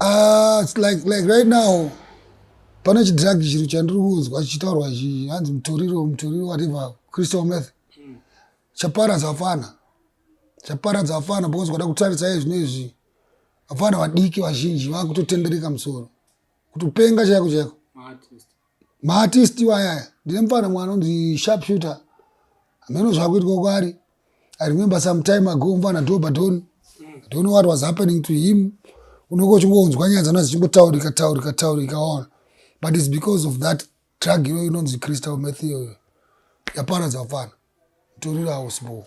Ah, it's like like right now pane chidhiragi chiri chandiri kunzwa chichitaurwa chi hanzi mutoriro mutoriro whatever crystal meth chaparadza vafana chaparadza vafana because kwada kutarisa izvi neizvi vafana vadiki vazhinji vakutotendereka musoro kutopenga chaiko chaiko maartist wayaya ndine mufana mwana anonzi sharp shooter hameno zvakuitwa kwari i remember some time ago mufana dobadon don't know what was happening to him unenge uchingonzwa nyaya dzana dzichingotaurika taurika taurika ona but its because of that drug iyoyo inonzi crystal mathiyo yaparadza mufana torirawo sbo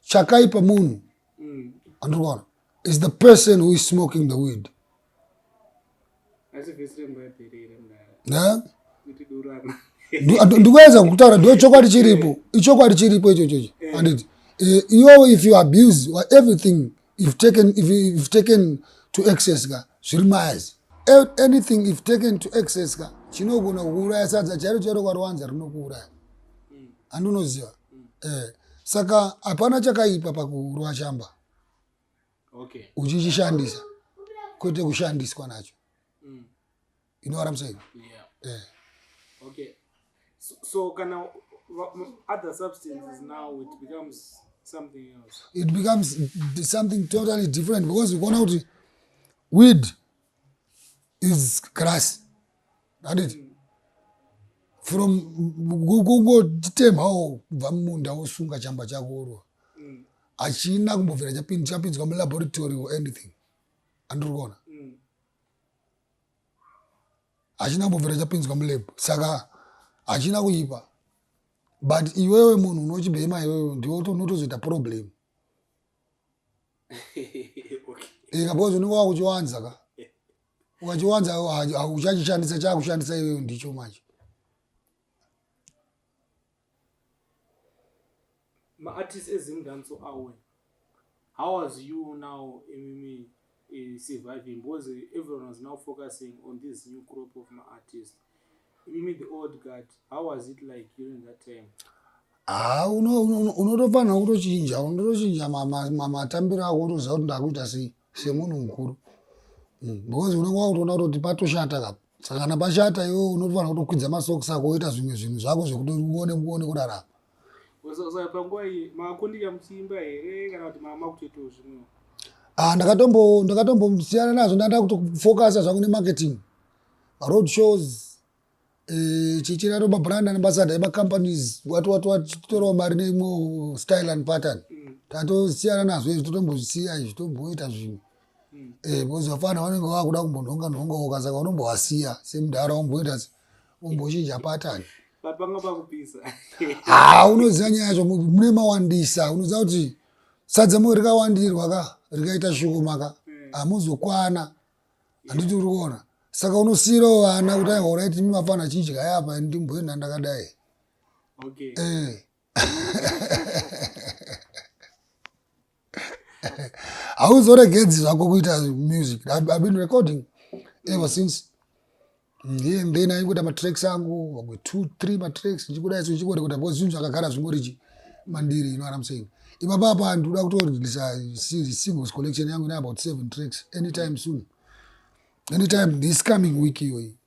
chakaipa munhu mm. andikuona is the person who is smoking the weed ndikuedza kutaura ndo chokwadi chiripo ichokwadi chiripo ichochocho eh. anditi eh, iyowo if you abuse everything if taken, if, if taken to excess ka zviri mazi anything if taken to excess ka chinogona kuuraya sadza chairo chairo kwarowanza rinokuuraya handunoziva eh, saka hapana chakaipa pakurwa chamba okay. uchichishandisa kwete kushandiswa nacho you know what i'm saying yeah. Yeah. okay so, so kana other substances now it becomes something else it becomes something totally different because ukaona kuti weed is grass that it mm. from kungotitemhawo kubva mumunda wosunga chamba chakorwa mm. hachina kumbobvira chapinzwa mulaboratory or anything andiri kuona hachina kumbobvira chapinzwa mulab saka hachina kuipa but iwewe munhu unochibhema iwewe ndiwe unotozoita problem ika because unenge wakuchiwanza ka ukachiwanza uchachishandisa chakushandisa iwewe ndicho manje maartist ezimdanso awe how was you now imimi eh, surviving because everyone was now focusing on this new crop of maartist imimi the old guard how was it like during that time haa ah, unotofanira kutochinja unotochinja matambiro ako utoziva kuti ndakuita sei semunhu mukuru mm, because unenge wakutoona kutoti patoshata kapo saka kana pashata iwe unofanira kutokwidza masokisi ako woita zvimwe zvinhu zvako zvekuti uone uone kurarama panguva iyi makundika muchiimba here kana kuti mama kutoitawo zvimwewo ah, ndakatombo ndakatombosiyana nazvo ndanda kutofokasa zvangu nemarketing road shows eh, chichira roba brand ambassador emacompanies wati wati wati titorawo mari neimwe style and pattern mm. tatosiyana nazvo izvi totombozisiya izvi tomboita zvimwe eh because vafana vanenge vakuda kumbonhonga nhonga woka saka unombovasiya semudhara womboita wombochinja pattern papanga pakupisa ha unoziva nyaya yacho mune mawandisa unoziva kuti sadza moyo rikawandirwa ka rikaita shoma ka hmm. hamuzokwana handiti uri kuona saka unosiirawo vana kuti aihoraiti mimafana chidya yapa ndimboenda ndakadai okay. eh. hauzoregedzi zvako kuita music i've been recording ever since ndiye mm, then aingoita matracks angu vamwe two three matracks ndichikuda isu ndichikorekota because zvinhu zvakagara zvingorichi mandiri you know what i'm saying ipapapa ndikuda kutorelisa singles collection yangu ine about seven tracks anytime soon anytime this coming week iyoyi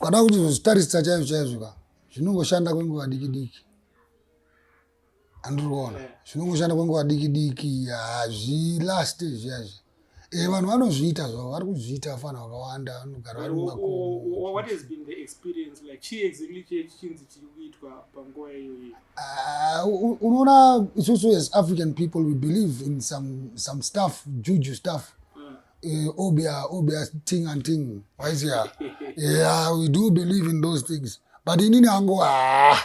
Ukada kuti zozvitarisa chaizvo chaizvo ka zvinongoshanda kwenguva diki diki andiriona zvinongoshanda kwenguva diki diki hazvilaste izviyazvi e eh, vanhu vanozviita zvavo vari kuzviita afana vakawanda vanogara vari mumakoounoona ah, isusu as african people we believe in some, some stuff juju stuff Eh, obia obia ting and ting waizia yeah we do believe in those things but inini angu haa ah,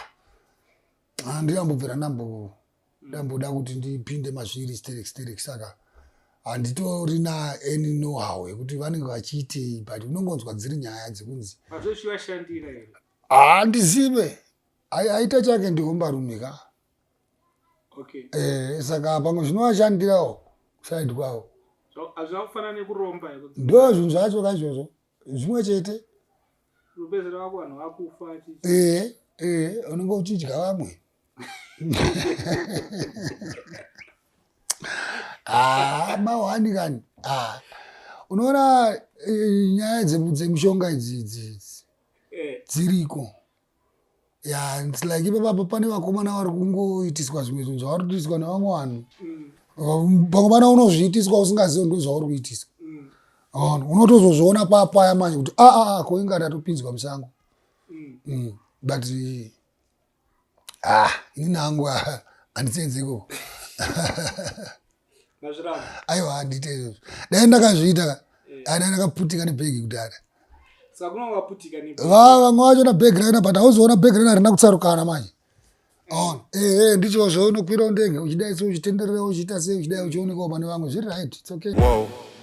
ah, ndiyambobvira ndambo ndamboda kuti ndipinde mazviri sterek sterek saka handitorina any nohow yekuti vanenge vachiitei but unongonzwa dziri nyaya dzekunzi haa ah, ndizive aita chake ndihomba rume ka okay. eh, saka pamwe zvinovashandirawo side kwavo hazvina kufanana nekuromba ndo zvinhu zvacho ka izvozvo zvimwe chete rupezera wako vanhu vakufa eh, eh, unenge uchidya vamwe ah, mahwani kani ah. unoona eh, nyaya dzemushonga idzi idzi idzi eh. dziriko ya its like ipapapo pane vakomana vari kungoitiswa zvimwe zvinhu zvavari kuitiswa nevamwe vanhu mm. pamwe pana unozviitiswa usingazivi ndo zvauri kuitiswa mm. on unotozozviona papaya manje kuti aa ah, ah, ah, ko inga tatopinzwa musango mm. mm. but ah ini nangu handisenzeko aiwa handiite izvozvo dai ndakazviita ka eh. dai ndakaputika nebhegi kudhara vaa vamwe vacho na bhegi raina but hauzoona bhegi raina harina kutsarukana manje aona eh. ehe eh, ndicho zvaunokwirawo ndege uchidai se uchitenderera uchiita sei uchidai uchionekawo pane vamwe zviri right its okay wow.